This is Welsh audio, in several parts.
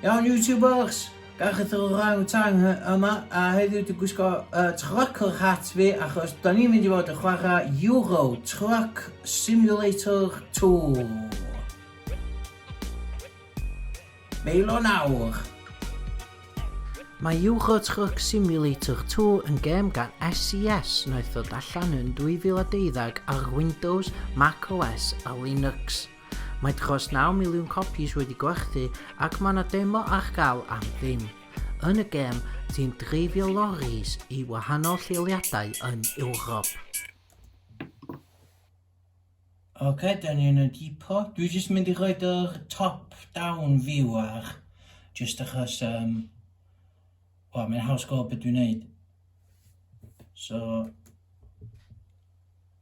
Iawn YouTubers, gach y orang tang yma a heddiw dwi'n gwisgo uh, trucker hat fi achos da ni'n mynd i fod yn chwarae Euro Truck Simulator 2. Meil o'n awr. Mae Euro Truck Simulator 2 yn gêm gan SES e wnaeth ddod allan yn 2012 ar Windows, Mac OS a Linux. Mae dros naw miliwn copis wedi gwerthu ac mae 'na demo ar gael am ddim. Yn y gêm, ti'n dreifio loris i wahanol lleoliadau yn Ewrop. Ok, da ni yn y dipo. Dwi jyst mynd i roed yr top down view ar, jyst achos, um, wel, mae'n haws gweld beth dwi'n neud. So,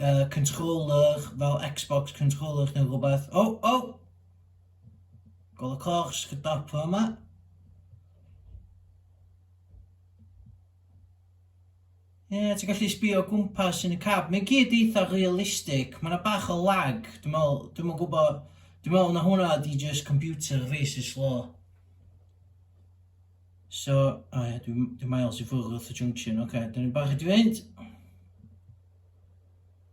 uh, controller fel Xbox controller neu rhywbeth. O, oh, o! Oh! Gol y coch, sgydap o yma. Ie, yeah, ti'n gallu sbio gwmpas yn y cab. Mae'n gyd eitha realistig. Mae'n yna bach o lag. Dwi'n meddwl, dwi'n meddwl gwybod... Dwi'n meddwl na hwnna di just computer fi sy'n slo. So, o ia, dwi, dwi miles i ffwrdd wrth y junction, oce, okay, dyn ni'n barod i fynd.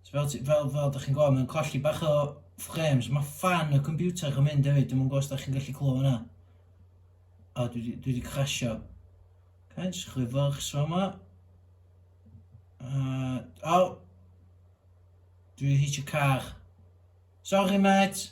So, fel, fel, fel da chi'n gweld, mae'n colli bach o frames. Mae fan y computer yn mynd hefyd, dwi'n gwybod os da chi'n gallu clywed hwnna. A dwi, dwi wedi crasio. Okay, jyst chwi fyrch so yma. Uh, o! Oh. Dwi wedi hitio car. Sorry, mate!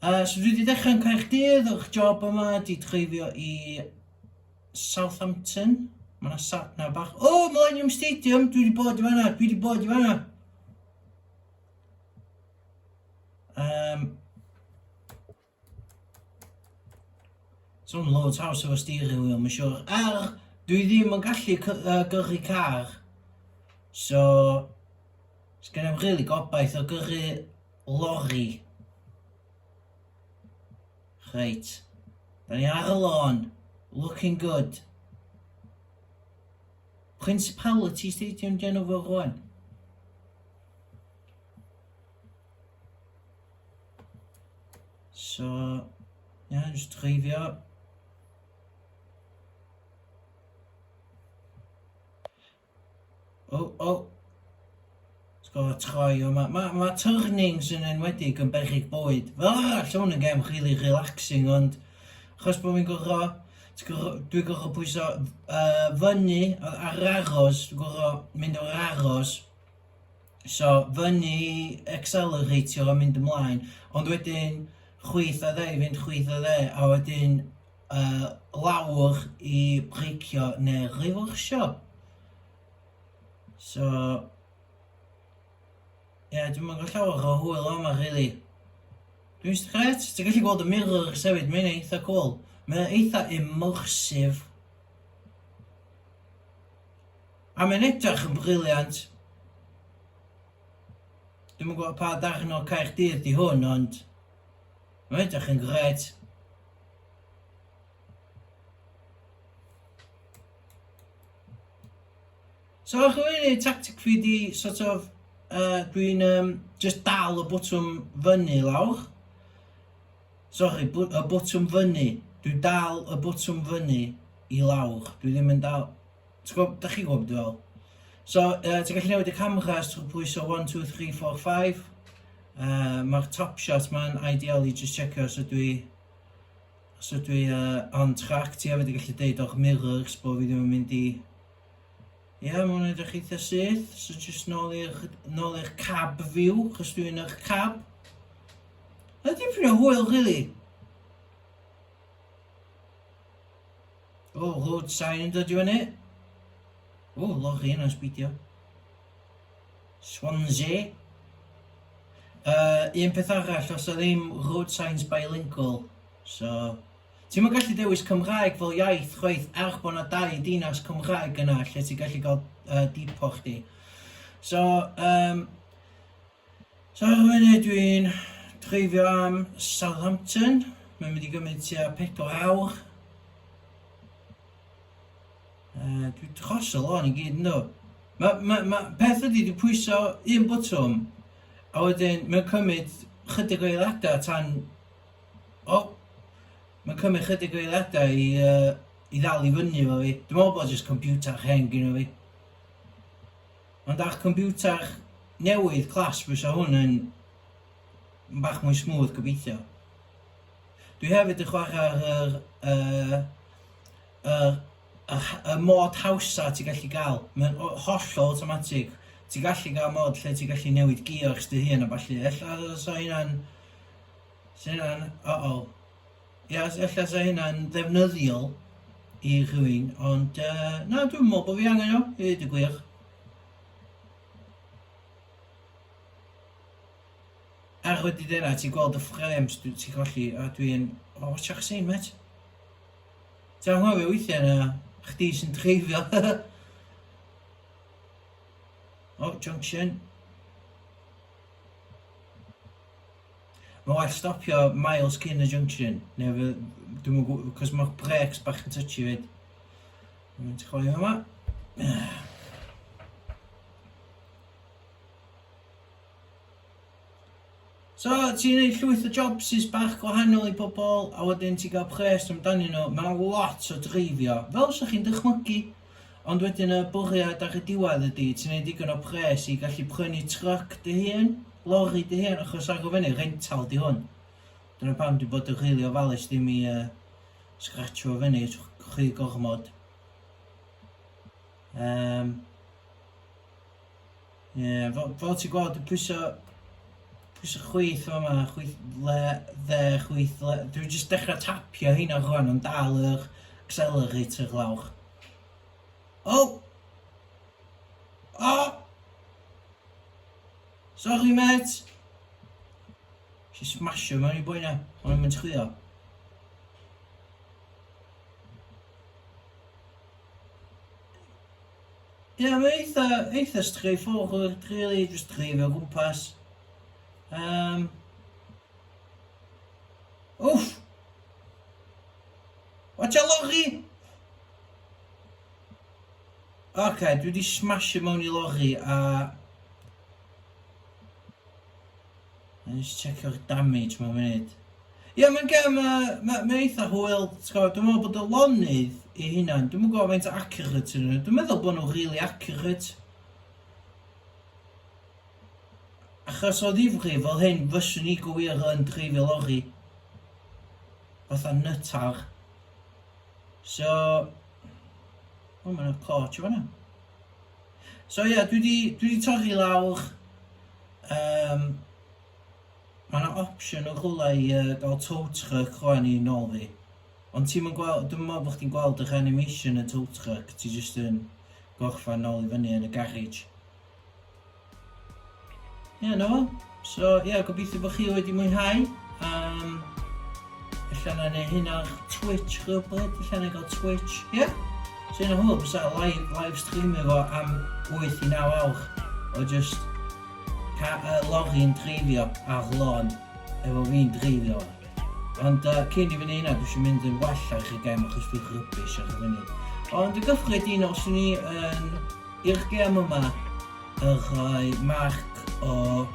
Uh, so dwi wedi dechrau yn Caerdydd, o'ch job yma, di dreifio i Southampton. Mae yna sat na bach. O, oh, Millennium Stadium, dwi wedi bod i fanna, dwi wedi bod i fanna. Um, So'n loads house efo steering wheel, mae'n siwr. Ar, dwi ddim yn gallu gyrru car. So, sgan i'm really gobaith o gyrru Lori. Reit. Da ni ar y lôn. Looking good. Principality Stadium gen nhw fo rwan. So, na, jyst dreifio. Oh, oh. Let's go, troi o. Mae ma, ma turnings yn enwedig yn berchig bwyd. Fel arall, lle hwn yn gem really relaxing, ond achos bod fi'n gorfo, dwi'n gorfo pwyso uh, fyny ar aros, dwi'n gorfo mynd o'r aros, so fyny acceleratio a mynd ymlaen, ond wedyn chwyth a dde i fynd chwyth a dde, a wedyn yy lawr i breicio neu riwrsio. So ie yeah, dwi'm yn gweld llawer o hwyl o yma rili. Dwi'n just gret, ti'n gallu gweld y mirrors hefyd, mae'n eitha cool. Mae'n eitha immersive. A mae'n edrych yn briliant. Dwi'n yn gwybod pa darn o Caerdydd di hwn, ond... Reit, dych chi'n gret. So, ych chi'n ei tactic fi di, sort of, uh, dwi'n um, just dal y bwtwm fyny lawr. Sorry, y bwtwm fyny. Dwi'n dal y bwtwm fyny i lawr. Dwi ddim yn dal... Ti'n gwybod, da chi'n gwybod beth dwi'n feddwl. So, uh, ti'n gallu newid y camera os ti'n pwyso 1, 2, 3, 4, 5. Uh, Mae'r top shot ma'n ideal i just checio os ydw i os ydw i uh, on track. Ti hefyd yn gallu deud o'ch mirrors bod fi ddim yn mynd i... Ie, yeah, mae'n edrych eitha syth. So just nôl i'r cab view, chos dwi'n yr cab. Ydy ffrio hwyl, really? O, load sign yn dod i fyny. O, loch i hynna'n sbidio. Swansea. Uh, un peth arall, os yw ddim road signs bilingual, so... Ti'n mynd gallu dewis Cymraeg fel iaith chwaith er bod yna dau dinas Cymraeg yna lle ti'n gallu cael uh, dipo chdi. So, um, So ar y funud dwi'n dreifio am Southampton, mae'n mynd i gymryd tua 4 awr. Uh, dwi'n tros y lôn i gyd yn dod. Mae ma, ma, peth ydy, dwi'n pwyso un bwtwm, a wedyn mae'n cymryd chydig o eiliadau tan... O! Oh, mae'n cymryd chydig o eiliadau i, uh, i ddal i fyny fo fi. Dwi'n meddwl bod jyst computer hen gyda fi. Ond â'ch computer newydd class fysa hwn yn bach mwy smooth gobeithio. Dwi hefyd yn chwarae ar yr, uh, yr, yr, y mod hawsa ti gallu gael. Mae'n hollol automatic. Ti gallu gael mod lle ti gallu newid gears dy hun a balli. Ella sa hynna'n... Sa hynna'n... Uh-oh. Ia, s- ella 'sa hynna'n ddefnyddiol i rhywun, ond yy, na, dwi'm yn meddwl bod fi angen o, i ddeud y gwir. Ar wedi dweud hynna, ti'n gweld y ffrems, dwi- ti'n colli, a dwi'n... O, watsiwch y sein, met. Ti'n anghofio weithiau na chdi sy'n dreifio. o, junction. Mae'n well stopio miles cyn y junction, neu fe... dwi'm yn gwybod, cos mae'r brêcs bach yn touchy 'fyd. Mae'n troi yma. So, ti'n gwneud llwyth o jobs sy'n bach gwahanol i bobl, a wedyn ti'n cael pres amdanyn nhw. Mae 'na lot o dreifio, fel 'sa chi'n dychmygu. Ond wedyn y bwriad ar y diwedd ydy ti'n neud digon o pres i gallu prynu truck dy hun, lorry dy hun, achos ar y fyny, rental di hwn. Dyna pam di bod yn rili ofalus ddim i uh, scratcho fyny rhy gormod. Um, Ie, fel, fel ti'n gweld, dwi'n pwyso, pwyso chwyth o yma, chwyth le, dde, chwyth le. Dwi'n just dechrau tapio heina rwan yn dal yr accelerator lawr. O! Oh! O! Oh! Sorry, met! Si smasho mewn i bwy na, ond i'n mynd chwio. Ie mae eitha eitha straightforward rili jyst dreifio o gwmpas. Yym. Wff! Watch out lorri! Ocê dwi 'di smasio mewn i lorri a Wna i jyst tseco'r damage mewn munud. Ie, mae'n gem, uh, mae'n ma eitha hwyl. Dwi'n meddwl bod y lonydd i hunan, dwi'n meddwl faint accurate yn nhw. Dwi'n meddwl bod nhw'n really accurate. Achos o ddifri fel hyn, fyswn i gywir yn dreifio lori. Fatha nytar. So... O, mae'n yna cloch o fanna. So ie, yeah, dwi wedi dwi wedi torri lawr, um, mae yna opsiwn o rhywle i uh, gael tow truck rwan i nôl fi. Ond ti'n mynd gweld, dwi'n meddwl bod chdi'n gweld yr animation y tow truck, ti jyst yn gorffan nôl i fyny yn y garage. Ie, yeah, na fo. So, ie, yeah, gobeithio bod chi wedi mwynhau. Um, Alla na neu hyn ar Twitch rhywbryd, alla na gael Twitch, ie? Yeah? So hyn o hwyl, bysa live, live stream efo am 8 i 9 awr o just ca, uh, lori'n dreifio ar lôn efo fi'n dreifio. Ond uh, cyn i fyny hynna, dwi eisiau mynd yn well ar y gem achos dwi'n rybys ar y funud. Ond y gyffredinol, swn i yn i'r gem yma a rhoi marc o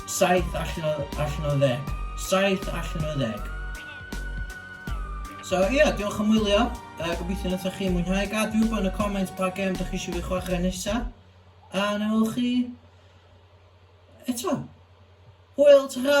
7 allan o, allan o 10. 7 allan o 10. So ie, yeah, diolch am wylio. Uh, gobeithio wnaethoch chi mwynhau. Gad fi wybod yn y comments pa gem ydych chi eisiau fi chwarae nesaf. A na chi eto. Hwyl, ta